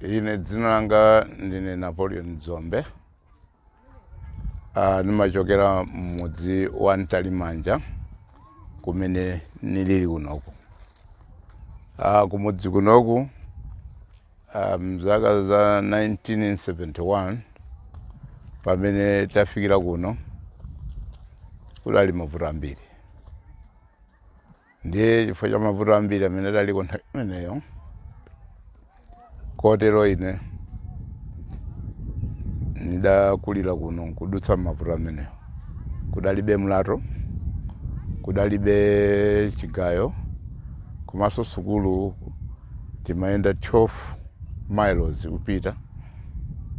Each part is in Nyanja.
ine dzina langa ndine napoleon dzombe Uh, nimachokera m'mudzi wa Ntalimanja kumene nilili kunoku. Uh, kumudzi kunoku uh, mzaka za 1971 pamene tafikira kuno kudali mavuto ambiri Ndiye chifukwa cha mavuto ambiri amene adaliko nthawi imeneyo, kotero ine ndidakulira kuno nkudutsa m'mavuto amenewo. Kudalibe mlato, kudalibe chigayo, komanso sukulu timayenda 12 miles upita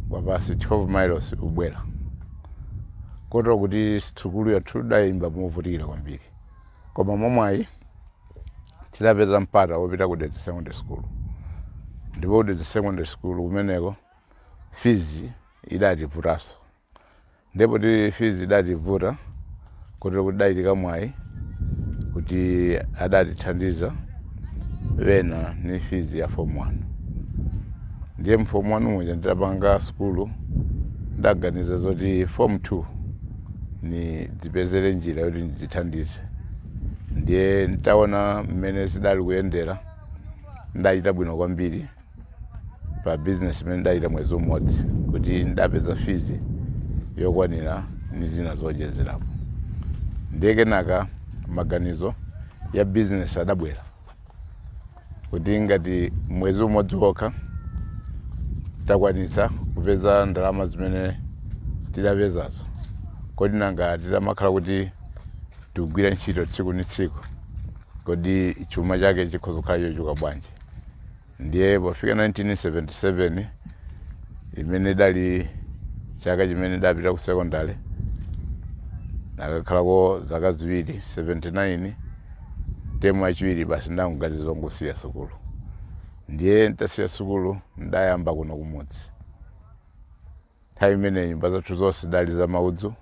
kwapasi 12 miles ubwera kotero kuti sukulu yathu idayenda movutikira kwambiri koma mwamwayi tidapeza mpata wopita ku dedza secondary school ndipo kudedza secondary school kumeneko fizi idativutanso ndipo ti fizi idativuta kotero kuti udachitika mwayi kuti adatithandiza wena ni fizi ya fomu wanu ndiye mfomu wanu muja ndidapanga sukulu ndidaganiza zoti fomu 2 nidzipezere njira yoti ndidzithandize ndiye ntaona mmene zidali kuyendera ndachita bwino kwambiri pa bizinesi imene ndidachita mwezi umodzi kuti ndidapeza fizi yokwanira ni zina zoonjezerapo ndiye kenaka maganizo ya bizinesi adabwera kuti ngati mwezi umodzi wokha takwanitsa kupeza ndalama zimene tidapezazo kodi nanga titamakhala kuti tikugwira ntchito tsiku ni tsiku kodi chuma chake chikhoza kukhala chochuluka bwanji Ndiye pofika 1977 imene idali chaka chimene ndapita ku sekondale nakakhalako zaka ziwiri 79 mtemu yachiwiri basi ndangoganiza zongosiya sukulu ndiye ntasiya sukulu ndayamba kuno kumudzi Nthawi imeneyo nyumba zathu zonse zidali za maudzu,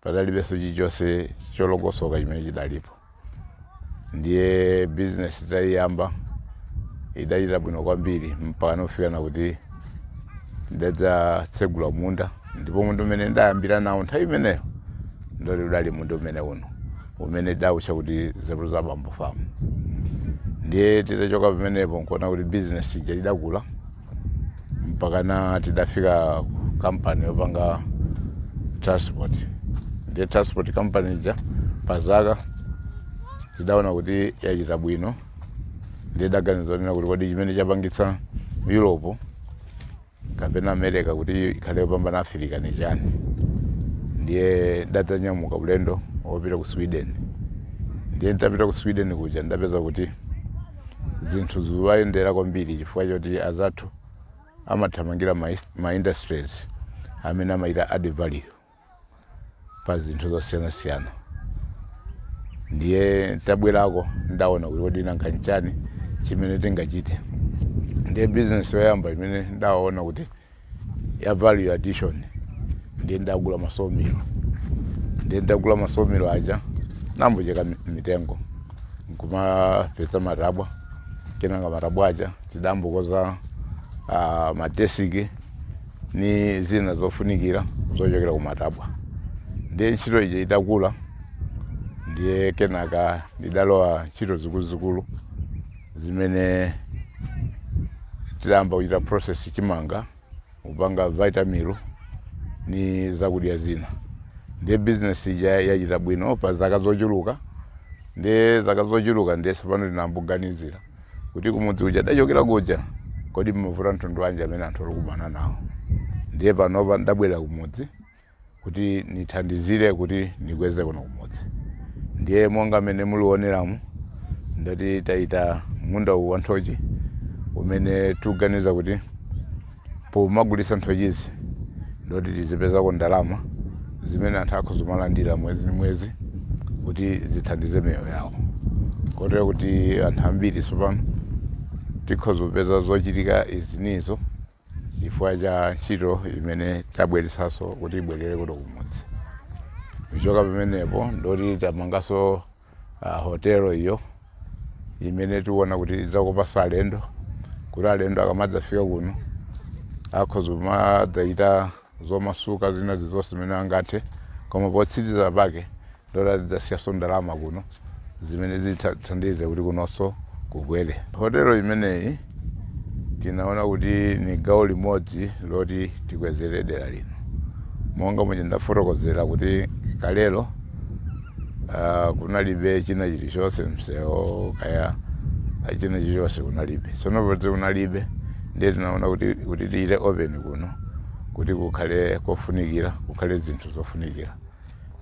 padalibenso chilichonse cholongosoka chimene chidalipo. Ndiye bizinesi titayiyamba idachita bwino kwambiri mpakana kufikana kuti ndidadzatsegula munda, ndipo munda umene ndidayambira nawo nthawi imeneyo ndoti udali munda umene uno umene tidawutcha kuti Nzeru za Bambo Farm. Ndiye titachoka pamenepo nkuona kuti bizinesi ija idakula mpakana tidafika kampani yopanga transport ndiye transport company ija pa zaka tidaona kuti yachita bwino ndiye daganiza onena kuti kodi chimene chapangitsa europe kapena america kuti ikhale yopambana afirika ni chani ndiye ndidadzanyamuka ulendo wopita ku sweden ndiye nditapita ku sweden kuja ndapeza kuti zinthu zikuwayendera kwambiri chifukwa choti azathu amathamangira ma, ma industries amene amachita add value pa zinthu zosiyanasiyana ndiye nditabwerako ndaona kuti kodi nanga nchani chimene tingachite ndiye bizinesi yoyamba imene ndaona kuti ya value addition ndiye ndagula ma sawmill ndiye ndagula ma sawmill aja nayambocheka mi- mitengo nkumapeza matabwa kenaka matabwa aja ndidayambokonza uh, madesiki ni zina zofunikira zochokera ku matabwa ndiye ntchito ija idakula ndiye kenaka ndidalowa ntchito zikuluzikulu zimene tidayamba kuchita process chimanga kupanga vitameal ni zakudya zina ndiye business ija yachita bwino pa zaka zochuluka ndiye zaka zochuluka ndiye tsopano tinayamboganizira kuti kumudzi uja ndachokera kuja kodi mmavuto mtundu wanji amene anthu alikumana nawo ndiye panopa ndabwera kumudzi kuti nithandizire kuti nikweze kuno kumudzi ndiye monga mmene mulikuwoneramu ndati tachita munda uwu wa nthochi umene tikuganiza kuti pomagulitsa nthochizi ndoti tizipezako ndalama zimene anthu akhoza kumalandira mwezi ndi mwezi kuti zithandize miyoyo yawo kotero kuti anthu ambiri tsopano tikhoza kupeza zochitika izinizo chifukwa cha ntchito imene tabweretsanso kuti ibwerere kuno kumudzi kuchoka pamenepo ndoti tamanganso uh, hotelo iyo imene tikuona kuti idzakopanso alendo kuti alendo akamadzafika kuno akhoza kumadzachita zomasuka zina zizonse zimene angathe koma potsiriza pake Ndoti zidzasiyaso ndalama kuno zimene zithandize kuti kunoso kukwele. Hotelo imeneyi tinaona kuti ni gawo limodzi loti tikwezele dela lino. Monga muja ndafotokozela kuti kalelo kunalibe china chilichose msewo kaya china chilichose kunalibe. Sono poti kunalibe ndiye tinaona kuti kuti tichite open kuno kuti kukhale kofunikila kukhale zinthu zofunikila.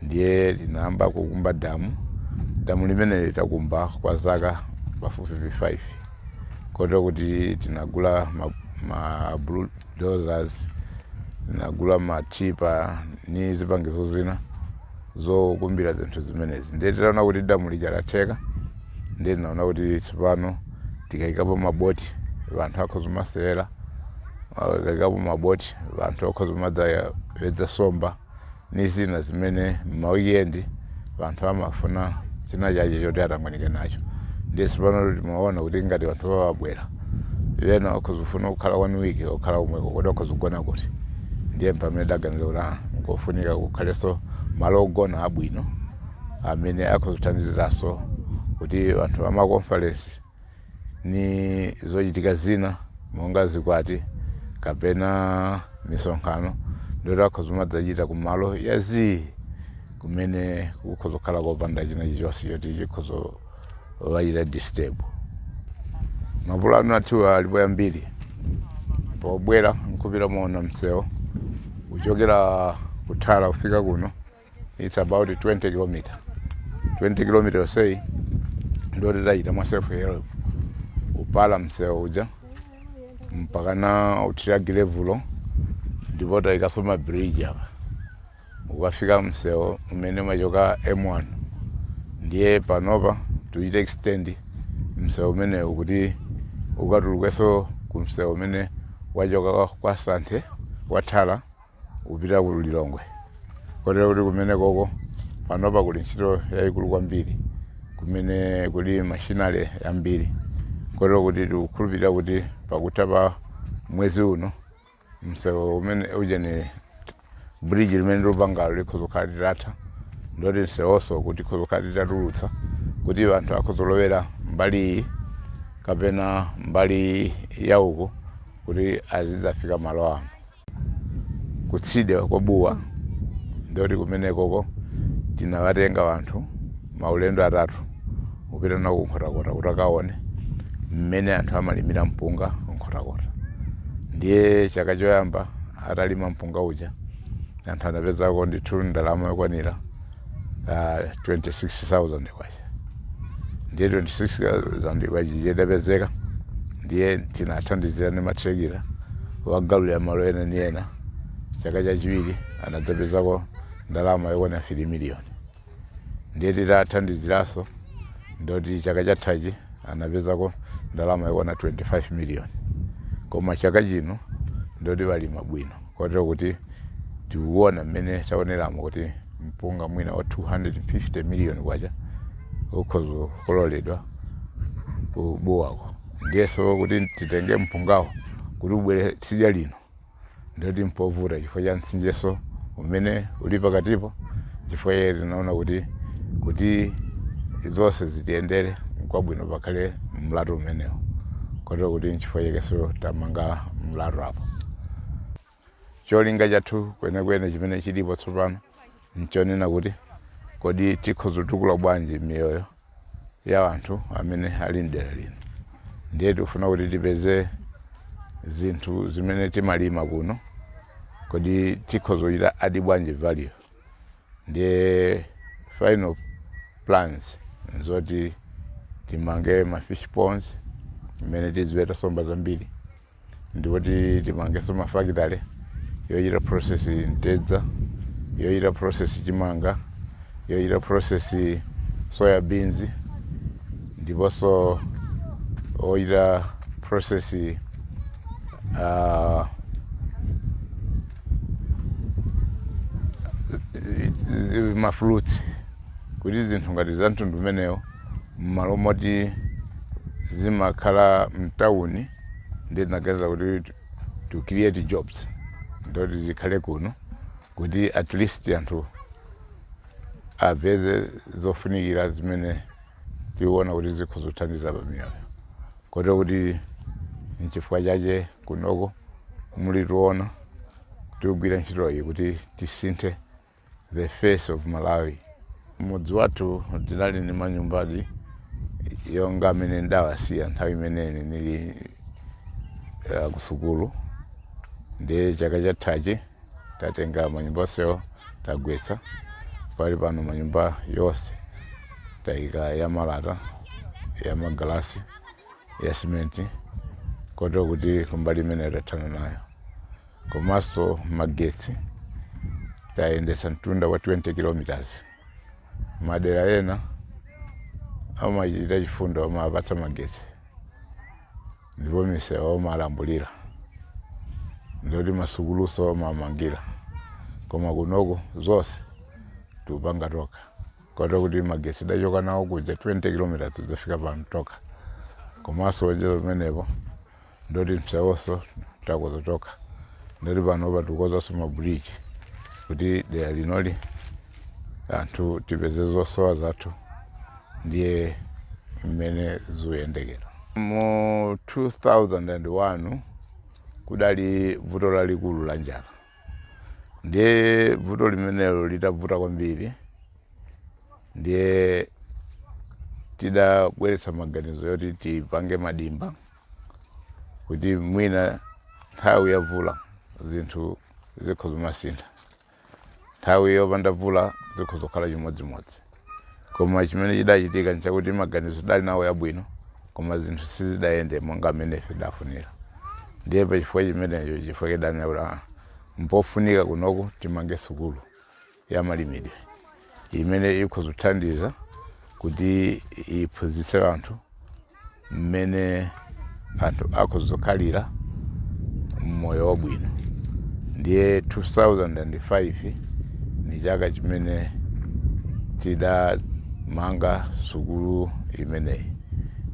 ndiye tinayamba kukumba damu damu limeneli tidakumba kwa zaka pafupifupi 5 kotero kuti tinagula ma, ma bulldozers tinagula matipa ni zipangizo zina zokumbira zinthu zimenezi ndiye titaona kuti damu lija latheka ndiye tinaona kuti tsopano tikayikapo maboti vanthu akhoza kumasewera tikayikapo maboti vanthu akhoza kumadzawedza somba ni zina zimene m'ma weekend wanthu amafuna china chache choti atangwanike nacho ndiye tsopano timaona kuti ngati wanthu wawabwera wena wakhoza kufuna kukhala one week okhala komweko kodi wakhoza kugona kuti ndiye mpamene tidaganiza kuti ah nkofunika kukhaleso malo ogona abwino amene akhoza kuthandiziraso kuti wanthu wama conference ni zochitika zina monga zikwati kapena misonkhano ndoti akhoza kumadzachita ku malo ya zii kumene kukhoza kukhala kopanda china chilichonse choti chikhoza kuwachita disturb mapulano athu alipo yambiri pobwera nkupita mwaona msewu kuchokera ku Thala kufika kuno it's about 20 kilometer 20 kilometer yonseyi ndo tidachita mwa self help kupala msewu uja mpaka na kuthira gilevulo ndipo tayikaso ma bridge mpaka kukafika msewu umene umachoka m1 ndiye panopa tuchite extend msewu umenewu kuti ukatulukeso ku msewu umene wachoka kwa Santhe wa Thala kupita ku Lilongwe kotero kuti kumenekoko panopa kuli ntchito yayikulu kwambiri kumene kuli mashini yambiri kotero kuti tikukhulupirira kuti pakutha pa mwezi uno msewu umene ujeni bridge limene tikupangalo likhoza kukhala litatha ndoti msewonso kuti likhoza kukhala litatulutsa kuti anthu akhoza kulowera mbali iyi kapena mbali ya uko kuti azidzafika malo ano kutsidya kwa Bua ndikuti kumenekoko tinawatenga anthu maulendo atatu kupita nawo ku Nkhotakota kuti akaone mmene anthu amalimira mpunga ku Nkhotakota ndiye chaka choyamba atalima mpunga uja anthu anapezako ndithu ndalama yokwanira ah, 26000 kwacha ndiye 26,000 kwachayi itapezeka ndiye tinathandizira ndi mathirakita kuwagaulira malo ena ndi ena. Chaka chachiwiri anadzapezako ndalama yokwana 3 million ndiye titathandiziranso ndoti chaka chathachi anapezako ndalama yokwana 25 million koma chaka chino ndoti walima bwino. Kotero kuti tikuona mmene taoneramo kuti mpunga mwina wa K250 miliyoni ukhoza kukololedwa ku Buwako. Ndiyenso kuti titenge mpungawo kuti ubwere tsidya lino ndiye kuti mpovuta chifukwa cha mtsinjenso umene uli pakatipo. Chifukwa chake tinaona kuti, kuti zonse zitiyendere bwino n'kwabwino pakhale mlatho umenewo. Kotero kuti n'chifukwa chakenso tamanga mlatho apo. Cholinga chathu kwenekwene chimene chilipo tsopano nchonena kuti kodi tikhoza kutukula bwanji miyoyo ya anthu amene ali m'dera lino. Ndiye tikufuna kuti tipeze zinthu zimene timalima kuno, kodi tikhoza kuchita adi bwanji value. Ndiye final plans nzoti timange ma fish ponds mmene tiziweta nsomba zambiri. ndipo timangenso ma factory yochita process mtedza, yochita process chimanga, yochita process soya beans ndiponso yochita process ah, mafruits kuti zinthu ngati za mtundu umenewo mmalo moti zimakhala mtawuni ndiye tinaganiza kuti to create jobs ndoti zikhale kuno kuti at least anthu apeze zofunikira zimene tiona kuti zikhoza kuthandiza pa miyoyo kotero kuti nchifukwa chache kunoko mukutiona tikugwira ntchitoyi kuti tisinthe The face of Malawi. Mudzi wathu tinali ndi manyumbadi onga amene ndidawasiya nthawi imene ine nili uh, kusukulu ndiye chaka chathachi tatenga manyumba onsewo tagwetsa pali pano manyumba yonse taika ya malata ya magalasi ya simenti kotero kuti kumbali imeneyo tathana nayo Komanso magetsi tayendetsa mtunda wa 20 km. Madera ena amachita chifundo amawapatsa magetsi ndipo misewu amalambulira ndiponso masukulunso amawamangira, koma kunoko zonse tikupanga tokha kotero kuti magetsi tidachoka nawo kuja 20 km kudzafika pano tokha. Komanso ocheza pamenepo ndoti msewunso takonza tokha ndoti panopa tikukonzanso mabuliji kuti dera linoli anthu tipeze zosowa zathu ndiye mmene zikuyendera mu 2001 kudali vuto lalikulu la njala ndiye vuto limenelo litavuta kwambiri ndiye tidabweretsa maganizo oti tipange madimba kuti mwina nthawi ya vula zinthu zikhoza kumasintha nthawi yopanda vula zikhoza kukhala chimodzimodzi koma chimene chidachitika nchakuti maganizo tidali nawo yabwino koma zinthu sizidayende monga mmene ife tidafunira ndiye pachifukwa chimenecho chifukwa tidanena kuti "Ah, mpofunika kunoku timange sukulu ya malimidwe imene ikhoza kuthandiza kuti iphunzitse anthu mmene anthu akhoza kukhalira mmoyo wabwino ndiye 2005 ni chaka chimene tidamanga sukulu imeneyi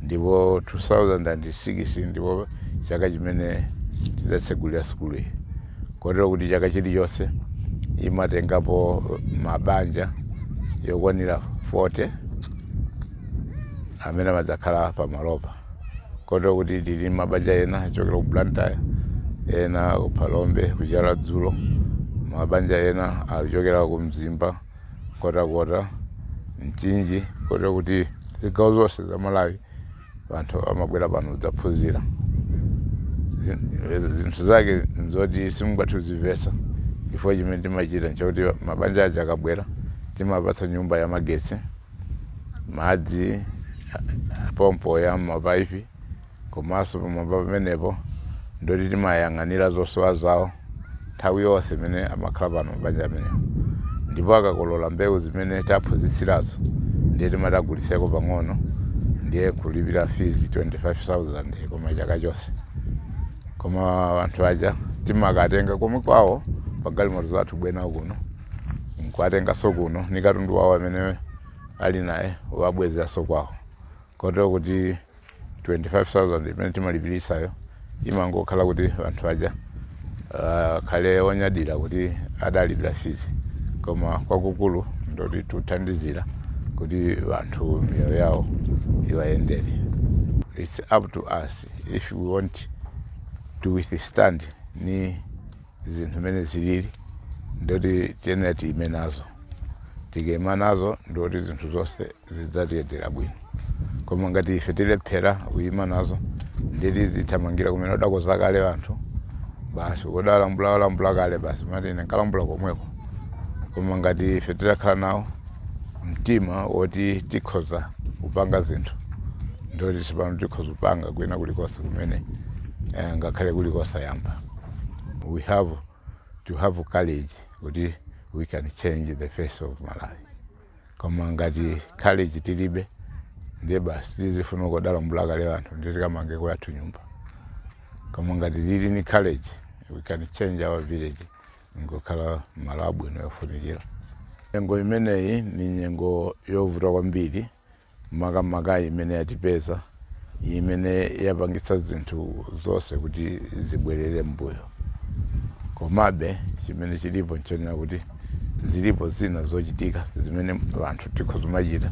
ndipo 2006 ndipo chaka chimene tidatsegulira sukulu iyi kotero kuti chaka chilichonse imatengapo mabanja yokwanira 40 amene amadzakhala pamalopa kotero kuti tili mabanja ena achokera ku blantyre ena ku phalombe ku chiradzulu mabanja ena achokera ku mzimba nkhotakota mchinji kotero kuti zigawo zonse za malawi Anthu amabwera pano kudzaphunzira. Zinthu zake n'zoti simungathe kuzimvetsa chifukwa chimene timachita n'chakuti mabanja aja akabwera timawapatsa nyumba yamagetsi, madzi apampopi a m'mapaipi komanso pamwamba pamenepo ndi oti timawayang'anira zosowa zawo. nthawi yonse imene amakhala pano mabanja amenewa ndipo akakolola mbewu zimene taphunzitsirazo ndiye timati agulitseko pang'ono ndiye kulipira fizi 25000 kwa chaka chonse koma anthu aja timakawatenga konko kwawo pagalimoto zathu kubwera nawo kuno nkuwatenganso kuno ni katundu wawo amene ali naye kuwabwezeranso kwawo kotero kuti 25,000 imene timawalipilitsayo imangokhala kuti anthu aja akhale onyadira kuti adalipira fees koma kwakukulu ndoti tuthandizira kuti anthu miyoyo yawo iwayendere its up to us if we want to withstand ni zinthu mmene zilili ndoti tiyenera tiime nazo tikaima nazo ndoti zinthu zonse zidzatiyendera bwino koma ngati ife tilephera kuyima nazo ndiye tizithamangira kumene udakonza kale anthu basi udalambula walambula kale basi n'mati ine nkalambula komweko koma ngati ife titakhala nawo mtima woti tikhoza kupanga zinthu ndoti tsopano tikhoza kupanga kwina kulikonse kumene eh, ngakhale kuli kosayamba we have to have courage kuti we can change the face of malawi koma ngati courage tilibe ndiye basi tizifuna komwe adalambula kale anthu ndiye tikamange kwathu nyumba koma ngati tili ni courage we can change our village n'kukhala malo abwino yofunikira nyengo imeneyi ni nyengo yovuta kwambiri Makamaka imene yatipeza, imene yapangitsa zinthu zonse kuti zibwerere m'mbuyo. Komabe, chimene chilipo n'chonena kuti zilipo zina zochitika zimene anthu tikhoza kumachita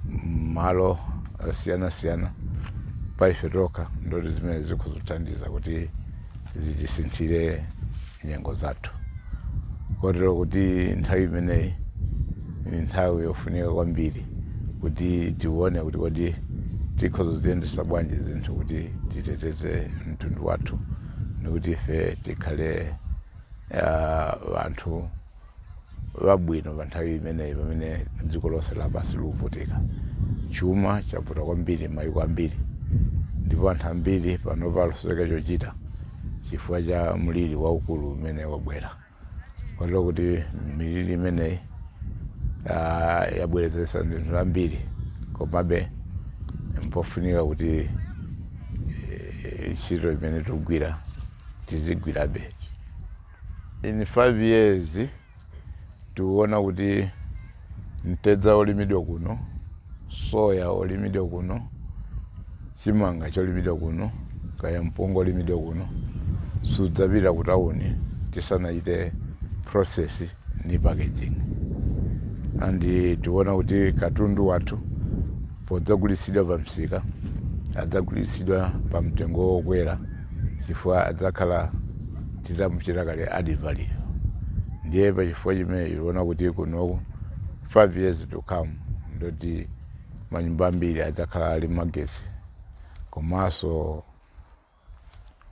m'malo osiyanasiyana pa ife tokha ndikuti zimenezi zikhoza kuthandiza kuti. zitisinthire nyengo zathu kotero kuti nthawi imeneyi ni nthawi yofunika kwambiri kuti tione kuti kodi tikhoza kuziyendesa bwanji zinthu kuti titeteze mtundu wathu nikuti ife tikhale ah, anthu wabwino pa nthawi imeneyi pamene dziko lonse lapansi likuvutika. Chuma chavuta kwambiri m'mayiko ambiri ndipo anthu ambiri panopa akusowa chochita chifukwa cha mliri waukulu umene wabwera. Kotero kuti miliri imeneyi ah, yabweretsa zinthu zambiri, komabe mpofunika kuti eh, ntchito imene tikugwira tizigwirabe. In 5 years tikuona kuti mtedza olimidwa kuno, soya olimidwa kuno, chimanga cholimidwa kuno, kaya mpunga olimidwa kuno sudzapita ku town tisanachite process ndi packaging and tikuona kuti katundu wathu Podzagulitsidwa pamsika, adzagulitsidwa pamtengo wokwera chifukwa adzakhala titamuchita kale add value. Ndiye pachifukwa chimenecho tikuona kuti kuno 5 years to come ndoti manyumba ambiri adzakhala ali magetsi komanso.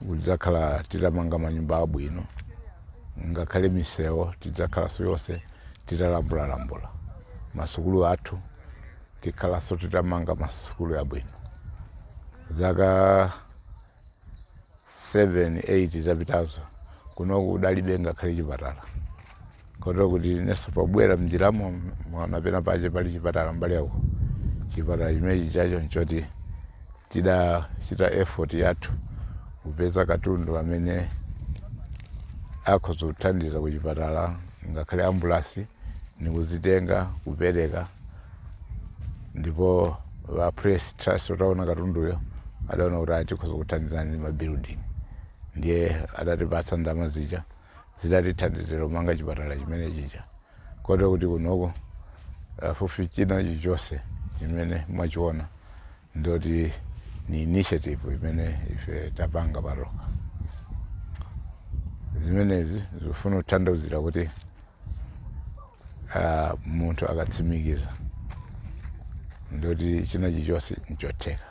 kudzakhala titamanga manyumba abwino ngakhale misewo tidzakhalanso yonse titalambulalambula masukulu athu tidzakhalanso titamanga masukulu abwino zaka 7 8 zapitazo kunoku kudalibe ngakhale chipatala Kotero kuti inenso pobwera m'njiramo, mwaona pena pache pali chipatala mbali iyi. Chipatala chimenechi chacho nchoti tidachita effort yathu kupeza katundu amene akhoza kuthandiza ku chipatala ngakhale ambulasi nikuzitenga kupereka ndipo a press trust ataona katunduyo adaona kuti ayi tikhoza kuthandizani ndi ma building ndiye adatipatsa ndalama zija Zidatithandizira kumanga chipatala chimenechija kotero kuti kunoko pafupifupi china chilichonse chimene mwachiona ndoti ni initiative imene ife tapanga patokha. Zimenezi zikufuna kuthandauzira kuti ah, munthu akatsimikiza ndoti china chilichonse nchotheka.